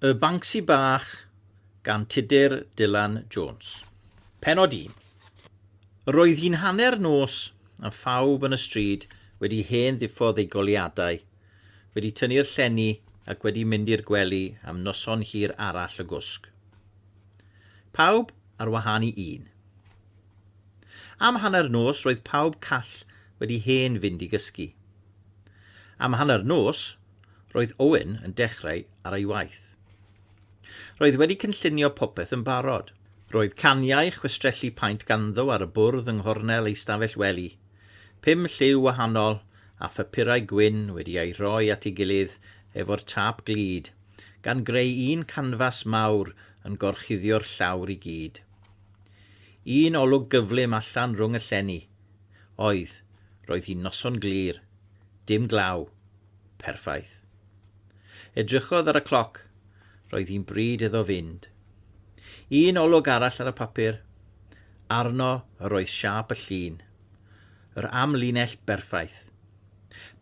Y Banksy Bach gan Tudur Dylan Jones. Pennod 1. Roedd hi'n hanner nos a phawb yn y stryd wedi hen ddiffodd eu goleuadau, wedi tynnu'r llenni ac wedi mynd i'r gwely am noson hir arall o gwsg. Pawb ar wahân i un. Am hanner nos roedd pawb call wedi hen fynd i gysgu. Am hanner nos Roedd Owen yn dechrau ar ei waith. Roedd wedi cynllunio popeth yn barod. Roedd caniau chwistrellu paent ganddo ar y bwrdd yng nghornel ei stafell wely, pum lliw wahanol a phapurau gwyn wedi eu rhoi at ei gilydd efo'r tâp glud, gan greu un canfas mawr yn gorchuddio'r llawr i gyd. Un olwg gyflym allan rhwng y llenni. Oedd, roedd hi'n noson glir. Dim glaw. Perffaith. Edrychodd ar y cloc. Roedd hi'n bryd iddo fynd. Un olwg arall ar y papur. Arno yr oedd siâp y llun. Yr amlinell berffaith.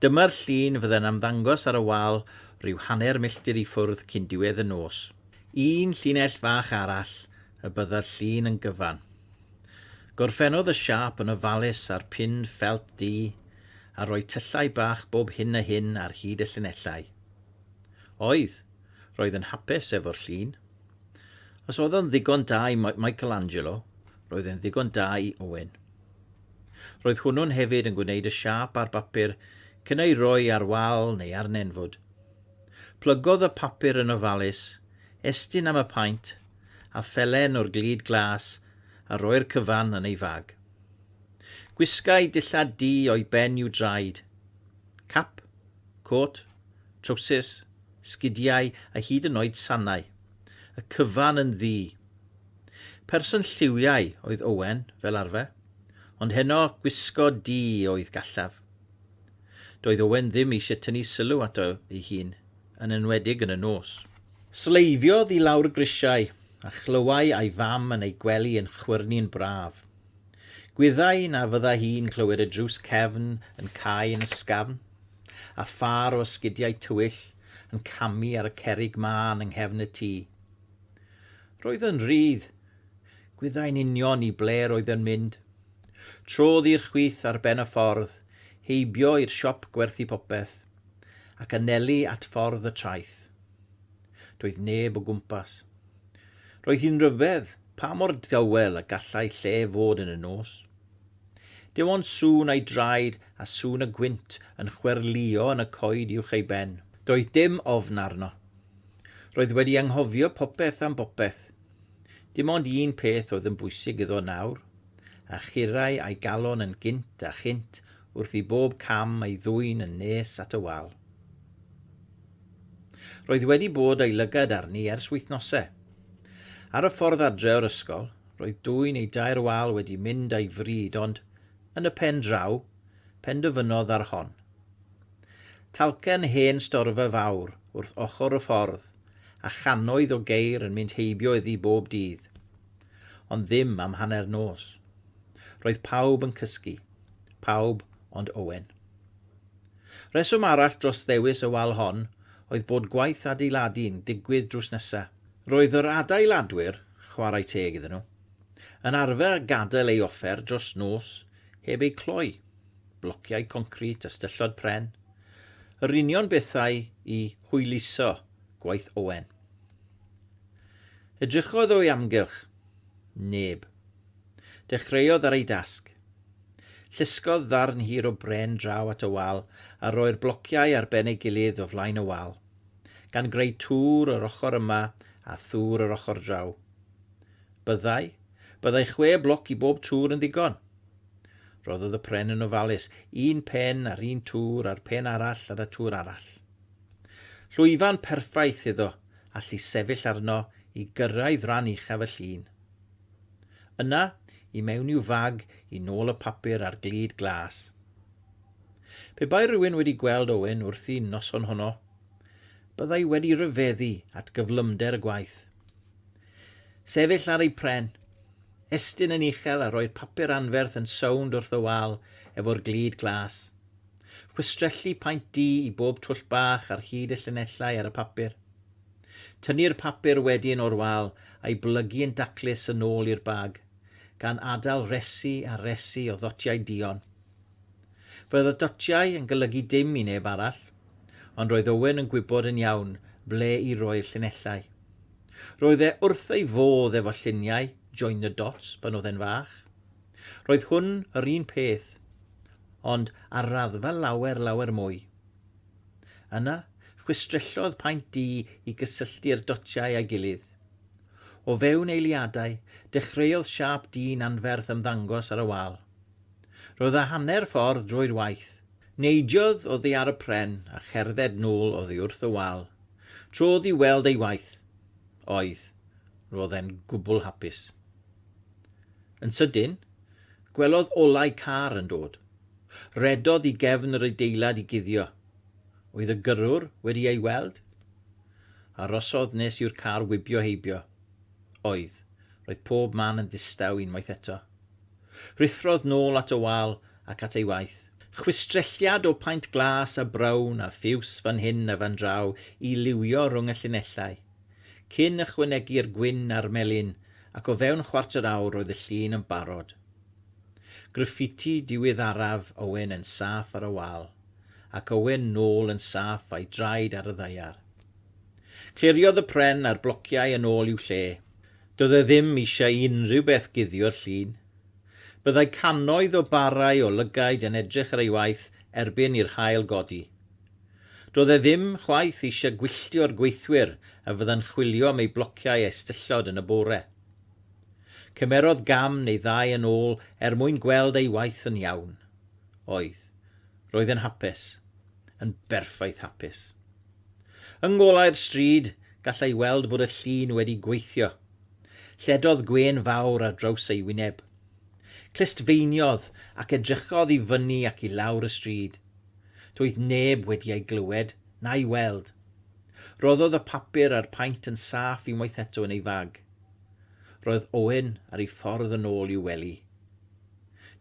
Dyma'r llun fydde'n ymddangos ar y wal ryw hanner milltir i ffwrdd cyn diwedd y nos. Un llinell fach arall y bydda'r llun yn gyfan. Gorffennodd y siâp yn ofalus a'r pin ffelt du a rhoi tyllau bach bob hyn a hyn ar hyd y llinellau. Oedd, roedd yn hapus efo'r llun. Os oedd o'n ddigon da i Michelangelo, roedd e'n ddigon da i Owen. Roedd hwnnw'n hefyd yn gwneud y siâp ar bapur cyn ei roi ar wal neu ar nenfwd. Plygodd y papur yn ofalus, estyn am y paent, a phelen o'r glud glas, a roi'r cyfan yn ei fag. Gwisgai dillad du o'i ben i'w draed. Cap, côt, trowsus, sgidiau a hyd yn oed sanau. Y cyfan yn ddu. Person lliwiau oedd Owen, fel arfer, ond heno gwisgo du oedd gallaf. Doedd Owen ddim eisiau tynnu sylw ato ei hun. yn enwedig yn y nos. Sleifiodd i lawr grisiau a chlywai a'i fam yn ei gwely yn chwyrnu'n braf. Gwyddai na fydda hi'n clywed y drws cefn yn cau yn ysgafn, a phâr o esgidiau tywyll yn camu ar y cerrig mân yng nghefn y tŷ. Roedd yn rhydd. Gwyddai'n union i ble roedd yn mynd. Trodd i'r chwith ar ben y ffordd, heibio i'r siop gwerthu popeth, ac anelu at ffordd y traeth. Doedd neb o gwmpas. Roedd hi'n ryfedd pa mor dawel y gallai lle fod yn y nos. Dim ond sŵn ei draed a sŵn y gwynt yn chwerlïo yn y coed uwch ei ben. Doedd dim ofn arno. Roedd wedi anghofio popeth am bopeth. Dim ond un peth oedd yn bwysig iddo nawr, a churrai a'i galon yn gynt a chynt wrth i bob cam ei ddwyn yn nes at y wal. Roedd wedi bod ei lygad arni ers wythnosau. Ar y ffordd adre o'r ysgol, roedd dwy neu dair wal wedi mynd a'i fryd ond, yn y pen draw, pendyfynnodd ar hon. Talcen hen storfa fawr wrth ochr y ffordd, a channoedd o geir yn mynd heibio iddi bob dydd. Ond ddim am hanner nos. Roedd pawb yn cysgu. Pawb ond Owen. Rheswm arall dros ddewis y wal hon oedd bod gwaith adeiladu'n digwydd drws nesa. Roedd yr adeiladwyr, chwarae teg iddyn nhw, yn arfer gadael ei offer dros nos heb eu cloi, blociau concrit a styllod pren, yr union bethau i hwyluso gwaith Owen. Edrychodd o'i amgylch. Neb. Dechreuodd ar ei dasg. Llusgodd ddarn hir o bren draw at y wal a rhoi'r blociau ar ben ei gilydd o flaen y wal, gan greu tŵr yr ochr yma a thŵr yr ochr draw. Byddai, byddai chwe bloc i bob tŵr yn ddigon. Rhoddodd y pren yn ofalus, un pen ar un tŵr a'r pen arall ar y tŵr arall. Llwyfan perffaith iddo allu sefyll arno i gyrraedd ran uchaf y llun. Yna, i mewn i'w fag, i nôl y papur a'r glud glas. Pe bai rhywun wedi gweld Owen wrthi noson honno, byddai wedi rhyfeddu at gyflymder y gwaith. Sefyll ar ei pren, estyn yn uchel a rhoi'r papur anferth yn sownd wrth y wal efo'r glud glas. Chwistrellu paent du i bob twll bach ar hyd y llinellau ar y papur. Tynnu'r papur wedyn o'r wal a'i blygu yn daclus yn ôl i'r bag, gan adael resi a resi o ddotiau duon. Roedd y dotiau yn golygu dim i neb arall, ond roedd Owen yn gwybod yn iawn ble i roi'r llinellau. Roedd e wrth ei fodd efo lluniau Join the Dots pan oedd e'n fach. Roedd hwn yr un peth, ond ar raddfa lawer, lawer mwy. Yna, chwistrellodd paent du i gysylltu'r dotiau â'i gilydd. O fewn eiliadau, dechreuodd siâp du'n anferth ymddangos ar y wal. Roedd y hanner ffordd drwy'r waith. Neidiodd oddi ar y pren a cherdded nôl oddi wrth y wal. Trodd i weld ei waith. Oedd. Roedd e'n gwbl hapus. Yn sydyn, gwelodd olau car yn dod. Rhedodd i gefn yr adeilad i guddio. Oedd y gyrrwr wedi ei weld? Arosodd nes i'r car wibio heibio. Oedd. Roedd pob man yn ddistaw unwaith eto. Rhuthrodd nôl at y wal ac at ei waith. Chwistrelliad o paent glas a brown a ffiws fan hyn a fan draw i liwio rhwng y llinellau. Cyn ychwanegu'r gwyn a'r melyn, ac o fewn chwarter awr roedd y llun yn barod. Graffiti diweddaraf Owen yn saff ar y wal, ac Owen nôl yn saff a'i draed ar y ddaear. Cliriodd y pren a'r blociau yn ôl i'w lle. Doedd e ddim eisiau unrhyw beth guddio'r llun. Byddai cannoedd o barau o lygaid yn edrych ar ei waith erbyn i'r haul godi. Doedd e ddim chwaith eisiau gwylltio'r gweithwyr a fyddan chwilio am ei blociau a'i styllod yn y bore. Cymerodd gam neu ddau yn ôl er mwyn gweld ei waith yn iawn. Oedd. Roedd yn hapus. Yn berffaith hapus. Yng ngolau'r stryd, gallai weld fod y llun wedi gweithio. Lledodd gwên fawr ar draws ei wyneb. Clustfeiniodd ac edrychodd i fyny ac i lawr y stryd. Doedd neb wedi ei glywed, na'i weld. Rhoddodd y papur a'r paent yn saff unwaith eto yn ei fag. Roedd Owen ar ei ffordd yn ôl i'w wely.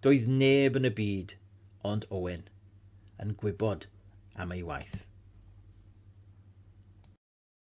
Doedd neb yn y byd ond Owen yn gwybod am ei waith.